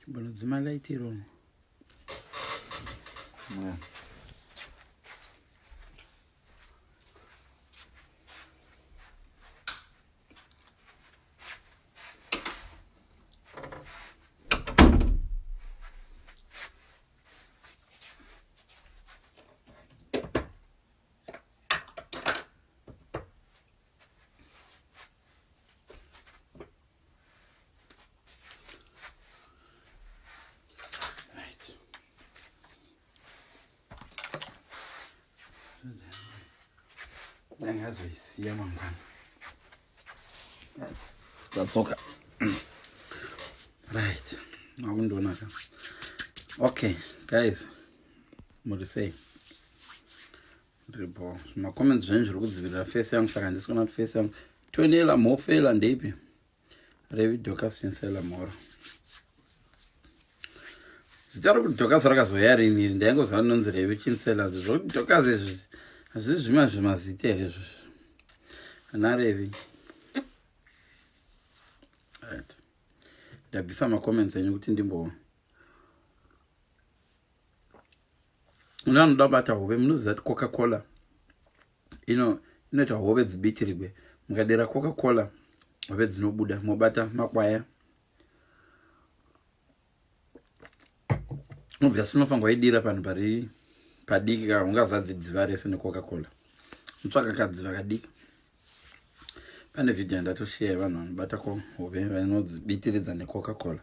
Chimbonodzima light iro. Yeah. ndakazoisiya mangwana ndadzoka right makundionaka okay guys muri sei ndiripo macomments zvenyu zviri kudzivirira face yangu saka handisi kuona kuti face yangu tonela mhofela ndeipi revi docas chinsela mhoro zita rokuti docas rakazouya rini iri ndaingoziva rinonzi revi chinsela zvokuti docas izvi hazvii zvima zvimazita here izvozvo ana revi ndabvisa macomments enyu kuti ndimboona Una anoda bata hove munoziva kuti coca cola ino inoita hove dzibitirigwe mukadera coca cola hove dzinobuda mobata makwaya obviously unofanirwa waidira panhu pari padiki ka ungazadzi dziva rese necoca cola mutsvaka kadziva kadiki pane vhidhiyo yandatosheya vanhu vanobata kohove vanodzibitiridza necoca cola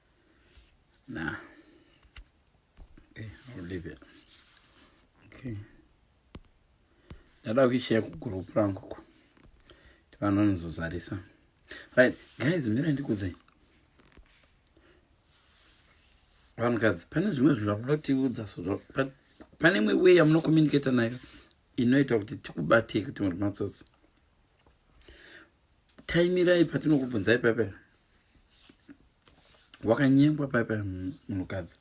Nah. Okay, I'll leave it. Okay. Ndada kuishare kugroup rangu ko. Vanhu vanozozarisa. Right, guys, mira ndikudzai. Vanhukadzi, pane zvimwe zvinhu zvamunotiudza so pane imwe way yamunocommunicata nayo inoita kuti tikubatei kuti muri matsotsi. taimirai patinokubvunzai pepe wakanyengwa pepe munhukadzi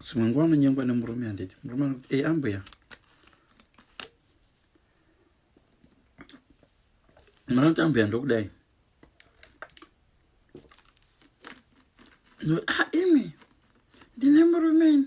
zvimwe nguva anonyengwa nemurume handiti murume anokuti ei ambuya manoti ambuya ndokudai ah, imi ndine murumeni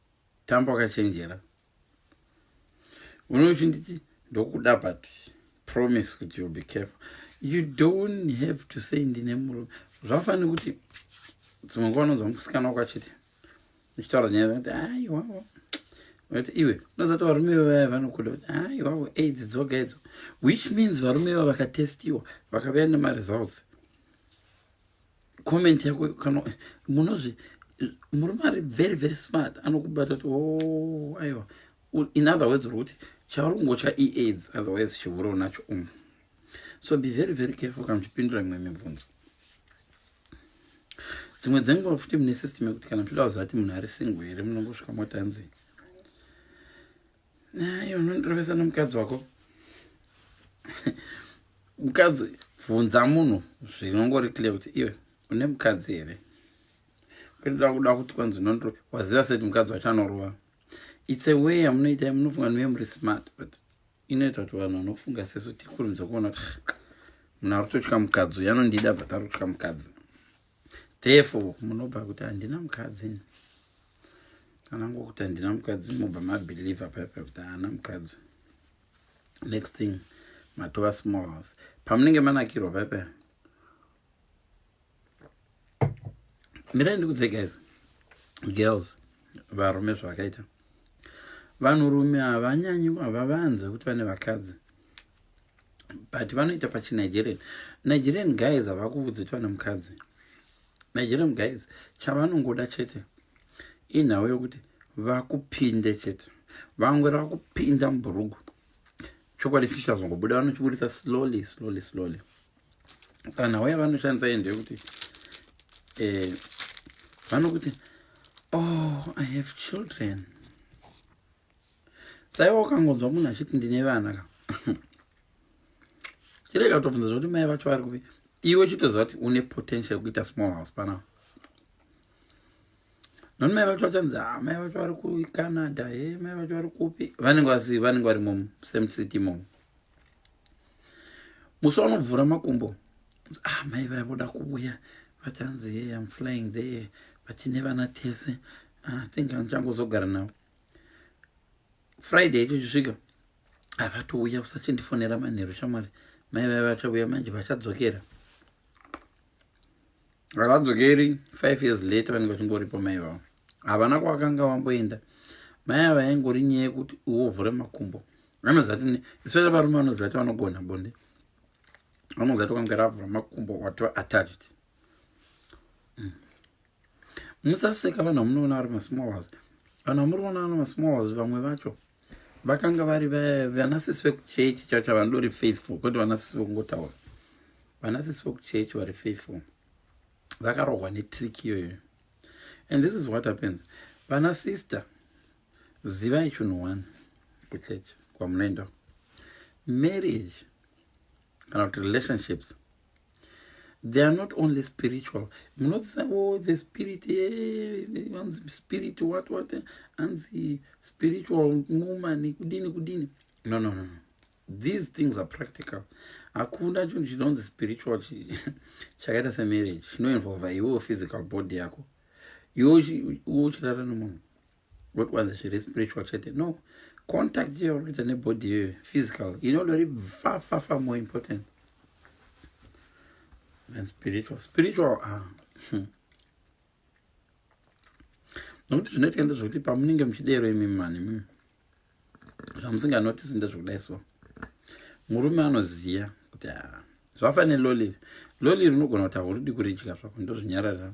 Tambo akachenjera. Uno uchinditi ndokuda but promise kuti you'll be careful. You don't have to say ndine murume. Zvafanira kuti dzimwe nguva unonzwa musikana wako achiti uchitaura nyaya kuti aiwa kuti iwe unozati varume vevaya vanokuda kuti aiwa aids dzoga idzo which means varume vava vakatestiwa vakavea nemaresults comment yako kana munozvi murume ari very very smart anokubata kuti oh, aiwa in other words uri kuti chauri kungotya iaids otherwise chivuri unacho umu so be very very careful kana muchipindura mimwe mibvunzo dzimwe dzenguva futi mune system yekuti kana muchida kuzati munhu ari single here munongosvika motanzi Nayo unondirovesa nomukadzi wako. Mukadzi bvunza munhu zvinongori clear kuti iwe une mukadzi here? Kutoda kuda kuti kwanzi unondiro waziva seti mukadzi wacho anorova. It's a way yamunoita munofunga niwe muri smart but inoita kuti vanhu vanofunga sesu tikurumidza kuona kuti munhu ari kutotya mukadzi uyo anondida but ari kutya mukadzi. therefore munobva kuti handina mukadzi kana ngokuti handina mukadzi mobva mabhilivha paipa kuti haana mukadzi next thing matova small house pamunenge manakirwa paipa mirai ndikudze guys girls varume zvavakaita vanhurume havanyanyi havavanze kuti vane vakadzi but vanoita pachinigerian nigerian guys havakuvudzi kuti vane mukadzi nigerian guys chavanongoda chete inhau yokuti vakupinde chete vangwera vakupinda mubhurugu chokwadi chichazongobuda vanochiburitsa slowly slowly slowly saka nhau yavanoshandisa iyi ndeyekuti eh, vanokuti oh i have children saiwa ukangonzwa munhu achiti ndine vana ka chirega kutobvunza zvokuti mai vacho vari kupi iwe chitoziva kuti une potential yekuita small house panapa noni mai vacho vachanzi ah, mai vacho vari kucanada e eh, mai vacho vari kupi vanenge vasi vanenge vari mom same city mom musi wanovhura makumbo ah, mai vaya voda kuuya vachanzi e eh, am flying there vatine vana tese ah, think andichangozogara navo friday ichisvika havatouya usachindifonera manheru shamwari mai vaya vachauya manje vachadzokera havadzokeri five years later vanenge vachingoripo mai vavo havana kwavakanga vamboenda mai ava yaingori nyaya yekuti iwovhure makumbo vanozati especially varume vanozati vanogona bonde vanozati kwanga ravhura makumbo wati attached musaseka vanhu vamunoona vari masmallers vanhu vamuriona vana masmallers vamwe vacho vakanga vari vanasisi vekuchechi chacho vanodori faithful kwete vanasisi vekungotaura vanasisi vekuchechi vari faithful vakarohwa netrick iyoyo and this is what happens vana sister zivai chinhu one kuchechi kwamunoenda marriage kana kuti relationships they are not only spiritual munotisa oh, the spirit eh, anzi yeah, spirit what what anzi spiritual woman kudini kudini no no no no these things are practical hakuna chinhu chinonzi spiritual chakaita semarriage chinoinvolva iwewo physical body yako iwe uchirara nemunhu what was zviri spiritual chete no contact iyo uri kuita nebody iyoyo physical inodori fafafa more important than spiritual spiritual ah. Hmm. nokuti zvinoitika ndezvekuti pamunenge muchidero imi mani hmm. zvamusinganotisi ndezvekudai so murume anoziva kuti ah, zvafaneloliri loliri unogona kuti hauridi kuridya zvako ndozvinyararira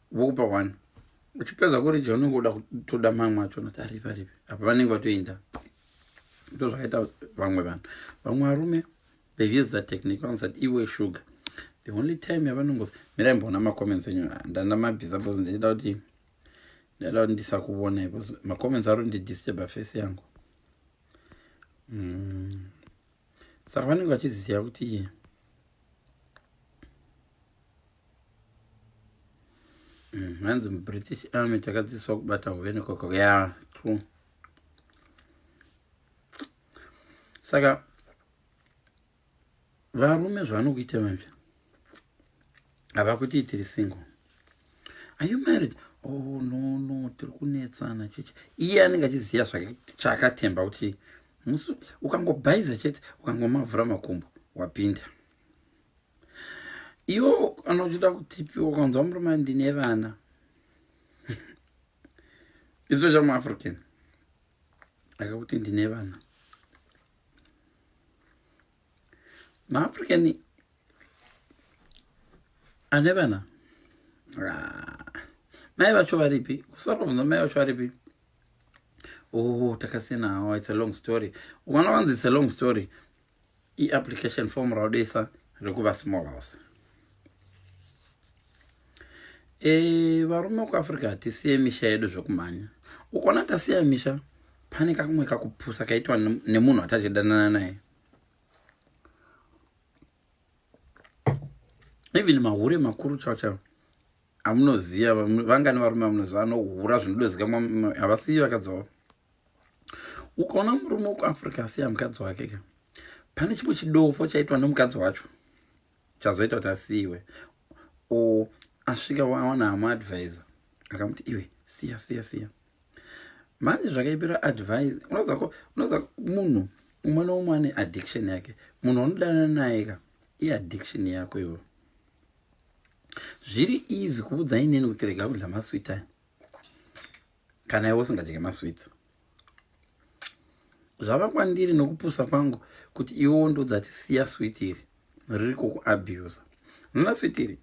vokupa one uchipedza kurija unenge uda kutoda mamwe acho noti aripi aripi apa vanenge vatoinda ndo zvakaita vamwe vanhu vamwe varume they use that technique vanozi that iwe sugar the only time yavanongozi mirai mboona macomments enyu ndanda mabhiza bcause ndichida kuti ndaida kuti ndisakuvonai bcause macomments ari ndidisturba face yangu mm. saka vanenge vachiziva kuti Mm, hanzi mubritish army takadzidziswa kubata hove nekoko ya true saka varume zvavanokuita vanje havakuti tiri single are you married oh no no tiri kunetsana cheche iye anenge achiziva chaakatemba kuti ukangobhaiza chete ukangomavhura makumbo wapinda iwo anochida kutipiwa kanzwa murume ndine vana izvo chamuafrican akakuti ndine vana maafrican ane vana ah, mai vacho varipi kusara kunzwa mai vacho varipi oh takasiyana hawo oh, its a long story ukana wanzi its a long story iapplication form raodoisa rekuva small house e, varume kuafrica hatisiye misha yedu zvekumhanya ukaona tasiya misha pane kakumwe kakupusa kaitwa nemunhu atachidanana naye even mahure makuru chao chao amunoziva vangani varume vamunoziva anohura zvinodozika havasiyi vakadzoa ukaona murume wekuafrica asiya mukadzi wake ka pane chimwe chidofo chaitwa nemukadzi wacho chazoita kuti asiyiwe o asvika wawana hama advisor akamuti iwe siya siya siya manje zvakaipira advise unoza munhu umwe noumwe ane addiction yake munhu anodana naye ka iaddiction yako iwe zviri easy kuudza inini kuti rega kudla masweetime kana iwe usingadye masweets zvava kwandiri nokupusa kwangu kuti iwewo ndodza tisiya swit iri riri kukuabusa nona swit iri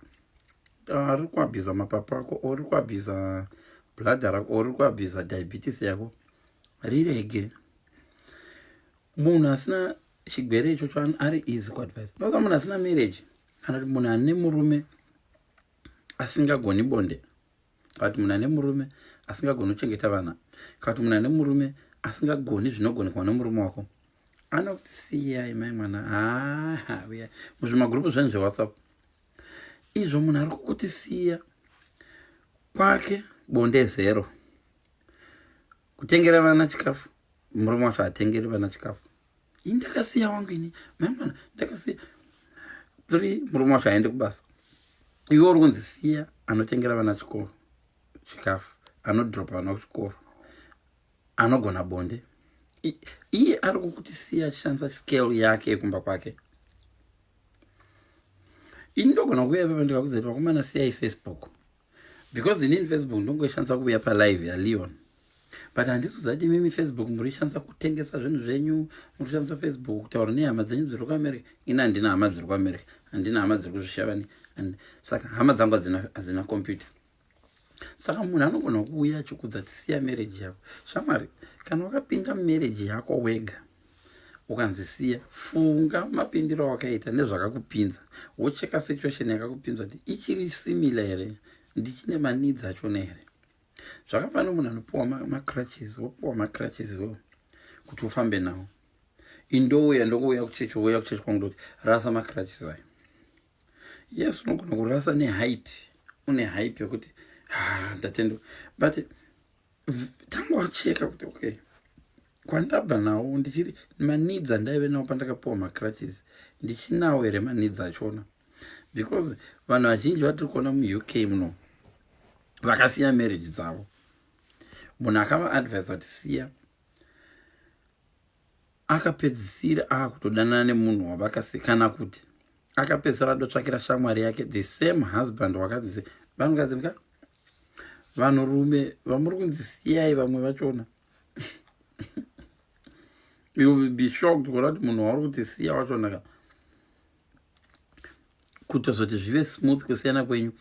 ah, riri kuabusa mapapu ako o riri kuabusa bladha rako o riri kuabusa diabetes yako rirege munhu asina chigwere ichocho ari easy kuadvise nosa munhu asina marriage kana kuti munhu ane murume asingagoni bonde kana kuti munhu ane murume asingagoni kuchengeta vana kana kuti munhu ane murume asingagoni zvinogonekwa nomurume wako anokuti siyai mai mwana haa uya muzvimagurupu zvenyu zvewhatsapp izvo munhu ari kukuti siya kwake bonde zero kutengera vana chikafu murume wacho hatengeri vana chikafu ini ndakasiya wangu ini maimana ndakasiya three murume wacho aende kubasa iwe uri kunzi siya anotengera vana chikoro chikafu anodropa vana kuchikoro anogona bonde iye ari kukuti siya achishandisa scale yake yekumba kwake ini ndogona kuuya pepa ndikakudza kuti vakomana siyai facebook because inini facebook ndongoishandisa kuuya palive yaleon but handiso zati imimi facebook murishandisa kutengesa zvinhu zvenyu murishandisa facebook kutaura nehama dzenyu dziri kuamerica ini handina hama dziri kuamerica handina hama dziri kuzvishavani and saka hama dzangu hadzina computer saka munhu anogona kuuya achikudza tisiya marriage yako shamwari kana wakapinda mumarriage yako wega ukanzi siya funga mapindiro awakaita nezvakakupinza wocheka situation yakakupinza kuti ichiri simila here ndichine manidzi achona here zvakafana munhu anopiwa macrutches wopiwa macrutches iwewo kuti ufambe nawo indouya ndokouya kuchechi ouya kuchechi kwangu ndoti rasa macrutches ayo yes unogona kurasa nehype une hype yekuti ha ndatendo but tanga wacheka kuti okay kwandabva nawo ndichiri manidzi andaive nawo pandakapiwa macrutches ndichinawo here manidzi achona because vanhu vazhinji vatiri kuona muuk muno vakasiya marriage dzavo munhu akavaadvisa kuti siya akapedzisira akutodanana nemunhu wavakasiya kana kuti akapedzisira adotsvakira shamwari yake the same husband wakadzi vanhu kadzi mka vanhu rume vamuri kunzi siyai vamwe vachona you will be shocked kuona kuti munhu wauri kuti siya wachona ka kutozoti zvive smooth kusiyana kwenyu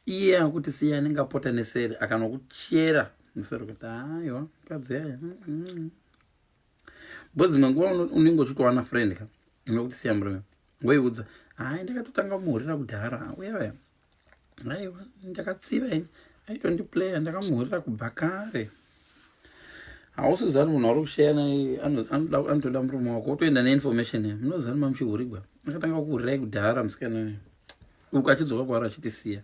iye akuti siya anenge apota neseri akanokuchera museri kuti aiwa mukadzi yaya mm, mm, mm. bo dzimwe nguva unenge uchitowana friend ka unokuti siya murume ngoiudza hai ndakatotanga kumuhurira kudhara uyavaya aiwa ndakatsiva ini aitondiplaya ndakamuhurira kubva kare hausizani munhu ari kushaya naye anotoda murume wako wotoenda neinformation ya munozani mamuchihurigwa akatanga kuhurirai kudhara musikana uyu uku achidzoka kwaari achitisiya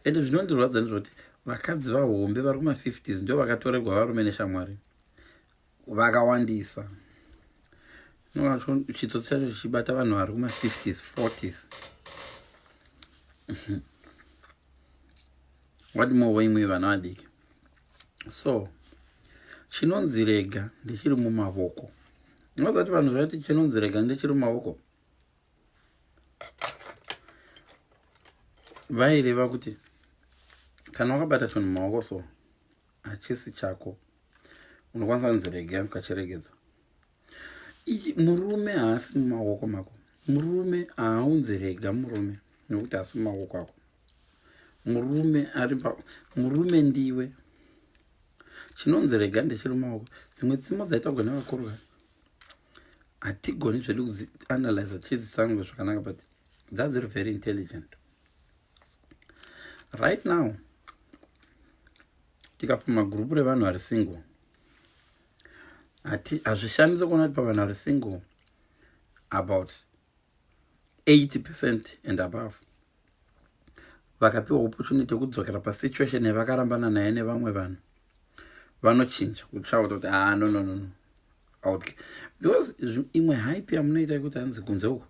ende zvinondirwadza ndizvoti vakadzi vahombe vari kuma-50s ndo vakatorerwa varume neshamwari vakawandisa chitsotsi chacho chichibata vanhu vari kuma 50s 40s what more waimwe vana vadiki so chinonzi rega ndichiri mumavoko ndinozati vanhu zvati chinonzi rega ndichiri mumavoko vaireva kuti kana wakabata chinhu mumaoko so hachisi chako unokwanisa kunzi rega ukachiregedza murume haasi mumaoko mako murume haaunzi rega murume nokuti haasi mumaoko ako murume ari pa murume ndiwe chinonzi rega ndechiri mumaoko dzimwe tsimo dzaitagwa nevakorwa hatigoni zvedu kudzianalyza tichidzitsango zvakanaka but dzadziri very intelligent right now tikapfuma gurupu revanhu vari single hati hazvishamisi kuona kuti pavanhu vari single about 80 percent and above vakapiwa opportunity yekudzokera pasituation yavakarambana naye nevamwe vanhu vanochinja kutsvauta kuti haa ah, no no no no okay because imwe hype yamunoita yekuti hanzi kunze uko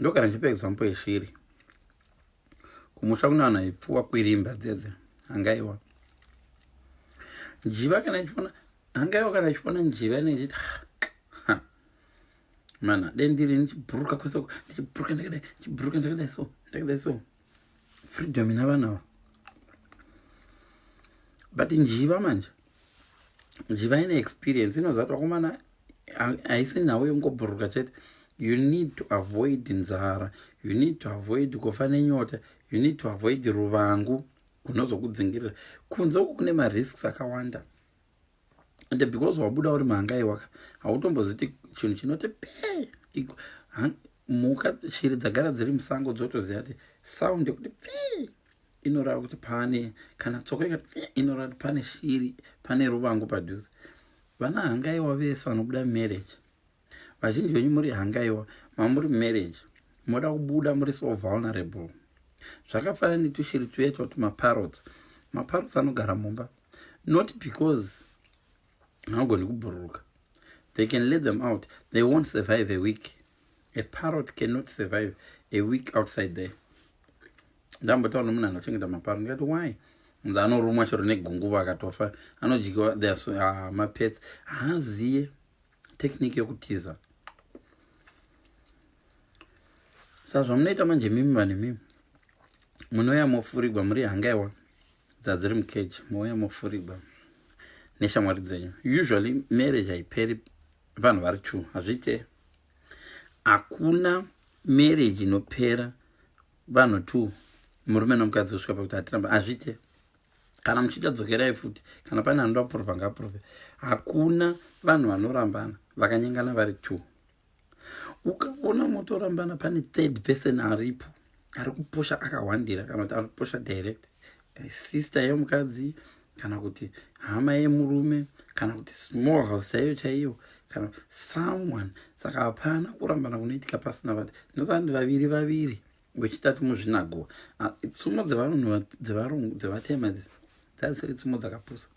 ndokana ndichipa example yeshiri kumusha kunavanhu aipfuwa kwirimba dzedze hangaiwa njiva kana ichiona hangaiwa kana ichiona njiva inenge ichiti ah, mana dai ndiri ndichibhuruka kwese ndichibhuruka ndakadai ndichibhuruka ndakadai so ndakadai so freedom ina vanawo but njiva manje njiva ine experience inozatwa kumana haisi nhau yekungobhuruka chete you need to avoid nzara you need to avoid kufa nenyota you need to avoid ruvangu kunozokudzingirira kunze uku kune marisks akawanda ende because wabuda uri mhangai waka hautomboziti chinhu chinoti pe mhuka shiri dzagara dziri musango dzotoziva kuti sound yekuti pe inorava kuti pane kana tsoko ikati pe inorava kuti pane shiri pane ruvangu padhuze vana hangaiwa vese vanobuda marriage vazhinji venyu muri hangaiwa mamuri marriage moda kubuda muri so vulnerable zvakafanana netushiri tuya toti maparots maparots anogara mumba not because haagoni kubhururuka they can let them out they won't survive a week a parrot cannot survive a week outside there ndambotaura nomunhu anochengeta maparrot ndikati why nza anorumwa chero negunguva akatofa anodyiwa ah, mapets haaziye technique yokutiza sa zvamunoita manje mimi vane mimi munouya mofurigwa muri hangaiwa dzadziri mukeji mouya mofurigwa neshamwari dzenyu usually marriage haiperi vanhu vari two hazviite hakuna marriage inopera vanhu two murume nomukadzi kusvika pakuti hatiramba hazviite kana muchida dzokerai futi kana pane anoda kuprova ngaprove hakuna vanhu vanorambana vakanyengana vari two ukaona motorambana pane third person aripo ari kupusha akahwandira kana kuti ari kupusha direct eh, sister yemukadzi kana kuti hama yemurume kana kuti small house chaiyo chaiyo kana someone saka hapana kurambana kunoitika pasina vati ndosandi vaviri vaviri wechitatu muzvinagoa ah, tsumo dzevanhu dzevarungu dzevatema idzi dzazisiri tsumo dzakapusa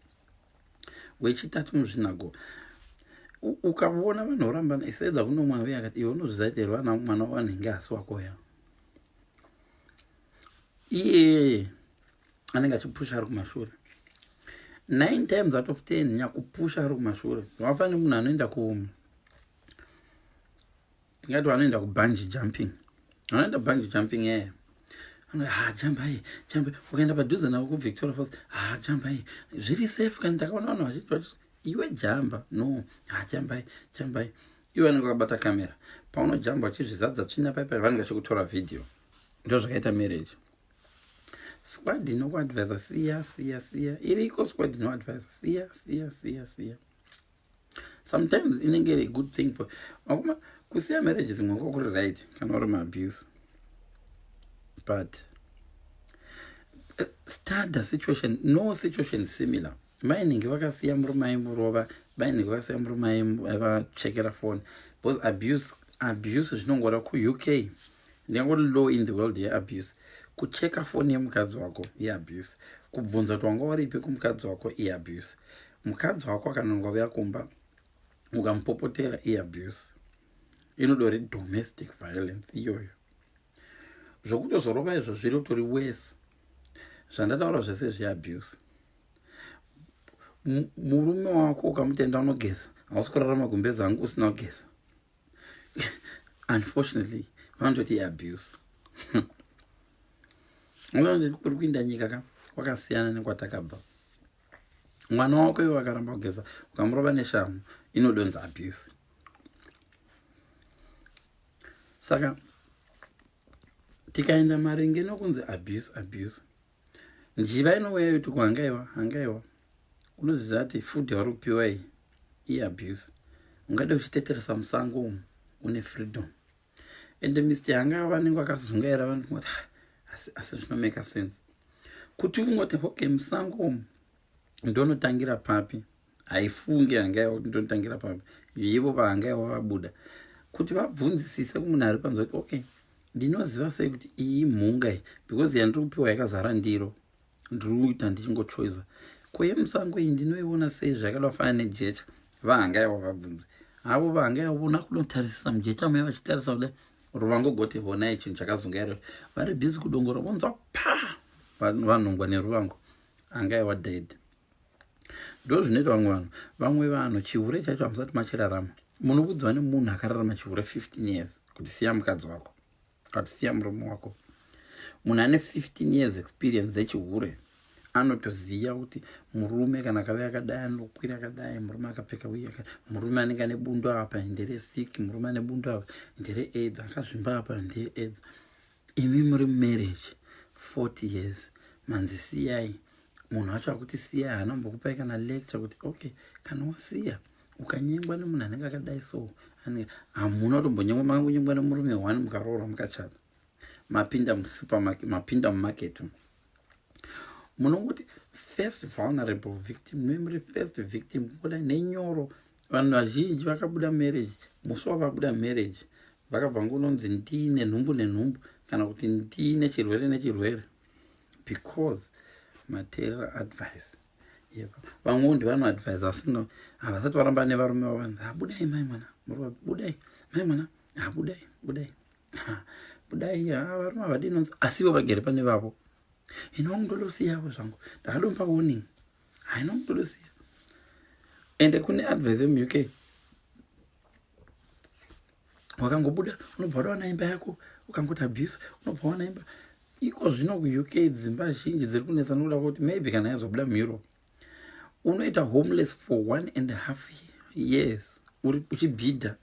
wechitatu muzvinagoa ukavona vanhu vorambana isedza kuno mwavi akati iwe unozvizaiteri vana mwana wavanhu inge asi wako ya iyeye anenge achipusha ari kumashure nine times out of ten nyakupusha ari kumashure wafanire munhu anoenda kuumu ndingati vanoenda kubunge jumping vanoenda bunge jumping eye yeah ha jambai jambai ukaenda padhuze navo kuvictoria falls ha jambai zviri safe kani ndakaona vanhu vachiti vati iwe jamba no ha jambai jambai iwe anenge wakabata kamera paunojamba uchizvizadza tsvina paipai vanenge vachikutora vhidhiyo ndo zvakaita marriage squad inokuadvisa siya siya siya iriko squad inoadvisa siya siya siya siya sometimes inenge iri good thing for vakoma kusiya marriage dzimwe nguva kuri right kana uri maabuse but eh, study situation no situation similar mainingi vakasiya murume aimurova mainingi vakasiya murume aivachekera eh, phone because abuse abuse zvinongora kuuk ndingangori law in the world yeabuse kucheka foni yemukadzi wako iabuse kubvunza kuti wanga waripi kumukadzi wako iabuse mukadzi wako akanonga uya kumba ukamupopotera iabuse inodori domestic violence iyoyo zvokutozorova izvo zviri utori wese zvandataura zvese zveabuse murume wako ukamutenda unogeza hausi kurarama gumbezi hangu usina kugeza unfortunately vanototi iabuse kuri kuinda nyika ka kwakasiyana nekwatakabva mwana wako iwe wakaramba kugeza ukamurova neshamu inodonza abuse saka tikaenda maringe nokunzi abuse abuse njiva inouya yoti kuhangaiwa hangaiwa unoziva kuti food yauri kupiwa iyi iabuse ungade uchiteteresa musango umu une freedom ende mr yanga vanenge vakazungaira vanoti ngoti asi zvinomeka sense kuti ungoti okay musango umu ndonotangira papi haifunge yanga yava kuti ndonotangira papi ivo vanga yava vabuda kuti vabvunzisise kumunhu ari panzi kuti okay ndinoziva sei kuti iyi mhunga iyi because yandiri kupiwa yakazara ndiro ndiri kuita ndichingochoiza kweyemusango iyi ndinoiona sei zvakada kufanana nejecha vahanga yavo vabvunze havo vahanga yavo vona kunotarisisa mujecha mai vachitarisa kuda ruvangogoti honai chinhu chakazunga iro vari bhizi kudongora vonzwa pa vanhongwa neruvango anga yava dead ndo zvinoita vamwe vanhu vamwe vanhu chihure chacho hamusati machirarama munokudzwa nemunhu akararama chihure 15 years kuti siya mukadzi wako But siya murume wako. Munhu ane 15 years experience dzechihure anotoziva kuti murume kana akave akadai anokwira akadai murume akapfeka uye murume anenge ane bundo apa ndere sick murume ane bundo apa ndere aids akazvimba apa ndee aids imi muri marriage 40 years manzi siyai munhu wacho akuti siyai haana mbokupai kana lecture kuti okay kana wasiya ukanyengwa nemunhu anenge akadai so hamuna kutombonyengwa makangonyengwa nemurume one mukaroora mukachata mapinda musupermarket mapinda mumarket munongoti first vulnerable victim nemuri first victim kuda nenyoro vanhu vazhinji vakabuda marriage musi wavabuda marriage vakabva ngunonzi ndii nenhumbu nenhumbu kana kuti ndii nechirwere nechirwere because material advice vamwewo ndivanoadvise asi havasati varamba nevarume vavo vanzi habudai mai mwana muruva budai mai mwana habudai budai budai varume havadi nonzi asivo vagere pane vavo ino mutodosiyavo zvangu ndakadomba warning haino mutodosiya ende kune advise yemuk wakangobuda unobva wadawana imba yako ukangoti abuse unobva wana imba iko zvino kuuk dzimba zhinji dziri kunetsa nokuda kwekuti maybe kana yazobuda mueurope unoita homeless for one and half years uri uchibhidha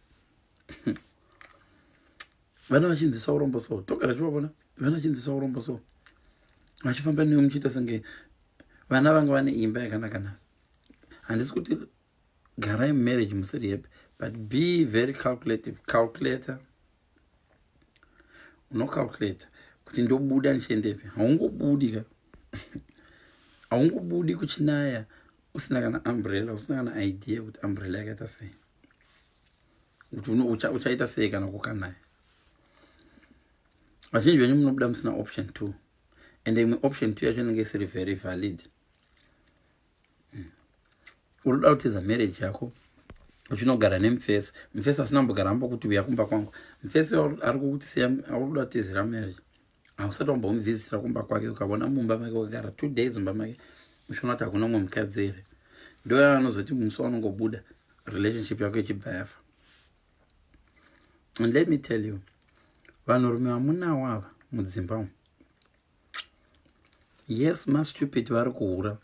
vana vachinzisa urombo so togara chivavona vana vachinzisa urombo so vachifamba newe muchiita senge vana vanga vane imba yakanaka na handisi kuti garai mumarriage musiri happy but be very calculative calculator unocalculator kuti ndobuda ndichiendepi haungobudi ka haungobudi kuchinaya usina kana umbrella usina kana idea kuti umbrella yakaita sei kuti uchaita sei kana kukanaya vazhinji venyu munobuda musina option two and imwe option two yacho inenge isiri very valid hmm. unoda kuteza marriage yako uchinogara nemufesi mufesi asina mbogara ambokuti uya kumba kwangu mufesi ari kukuti siya aukuda kutizira marriage hausati wambomuvhizitira kumba kwake ukavona mumba make wakagara two days mumba make uchiona kuti hakuna umwe mukadzi here ndoya anozoti musi wanongobuda relationship yako ichibva yafa and let me tell you vanhurume vamunawo ava mudzimba umu yes mastupid vari kuhura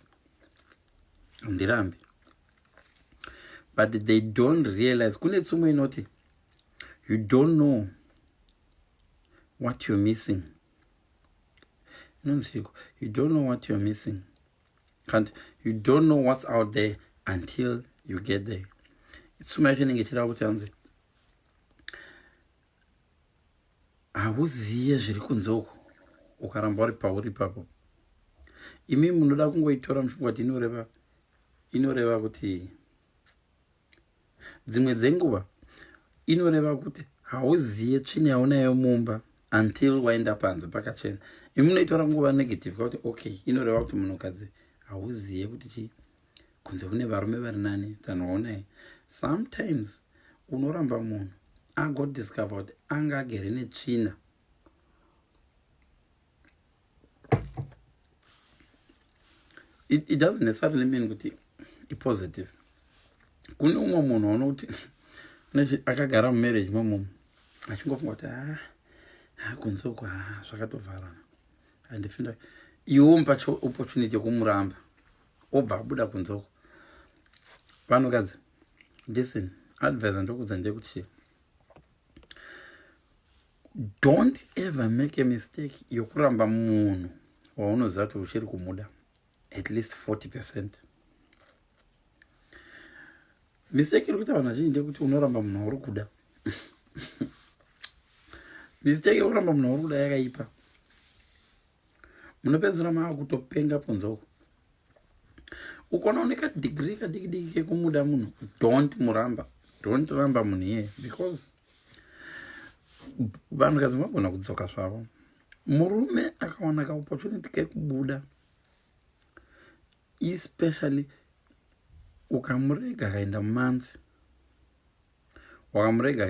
ndirambi but they don't realize kune tsumo inoti you don't know what you're missing inonziko you don't know what you're missing kant you don't know what's out there until you get there tsumo yacho inenge ichireva kuti anzi Hauziye zviri kunze uko ukaramba uri pauri ipapo. Imi munoda kungoitora muchifungwa kuti inoreva inoreva kuti dzimwe dzenguva inoreva kuti hauziye tsvina yaunayo mumba until waenda panze pakachena imunoitora nguva negative kwakuti okay inoreva kuti munhukadzi hauziye kuti chii kunze kune varume vari nani dzanoonai sometimes unoramba munhu agodiscover kuti anga agere netsvina it, it doesn't necessarily mean kuti ipositive kune umwe munhu aona kuti akagara mumarriage momumu achingofunga kuti ah, ah, kunze uku ah, zvakatovharana andifinda iwo mupacho opportunity yekumuramba obva abuda kunze uko vanhukadzi listen advise ndokudza ndekuti don't ever make a mistake yokuramba munhu waunoziva kuti uchiri kumuda at least 40 percent mistake iri kuita vanhu vazhinji ndekuti unoramba munhu wauri kuda mistake yokuramba munhu wauri kuda yakaipa munopedzisira mava kutopenga kunze uko ukona une kadigiri kadikidiki kekumuda munhu don't muramba don't ramba munhu iyeye because vanhu kadzi vagona kudzoka zvavo murume akawana kaopportunity kekubuda especially ukamurega akaenda month wakamurega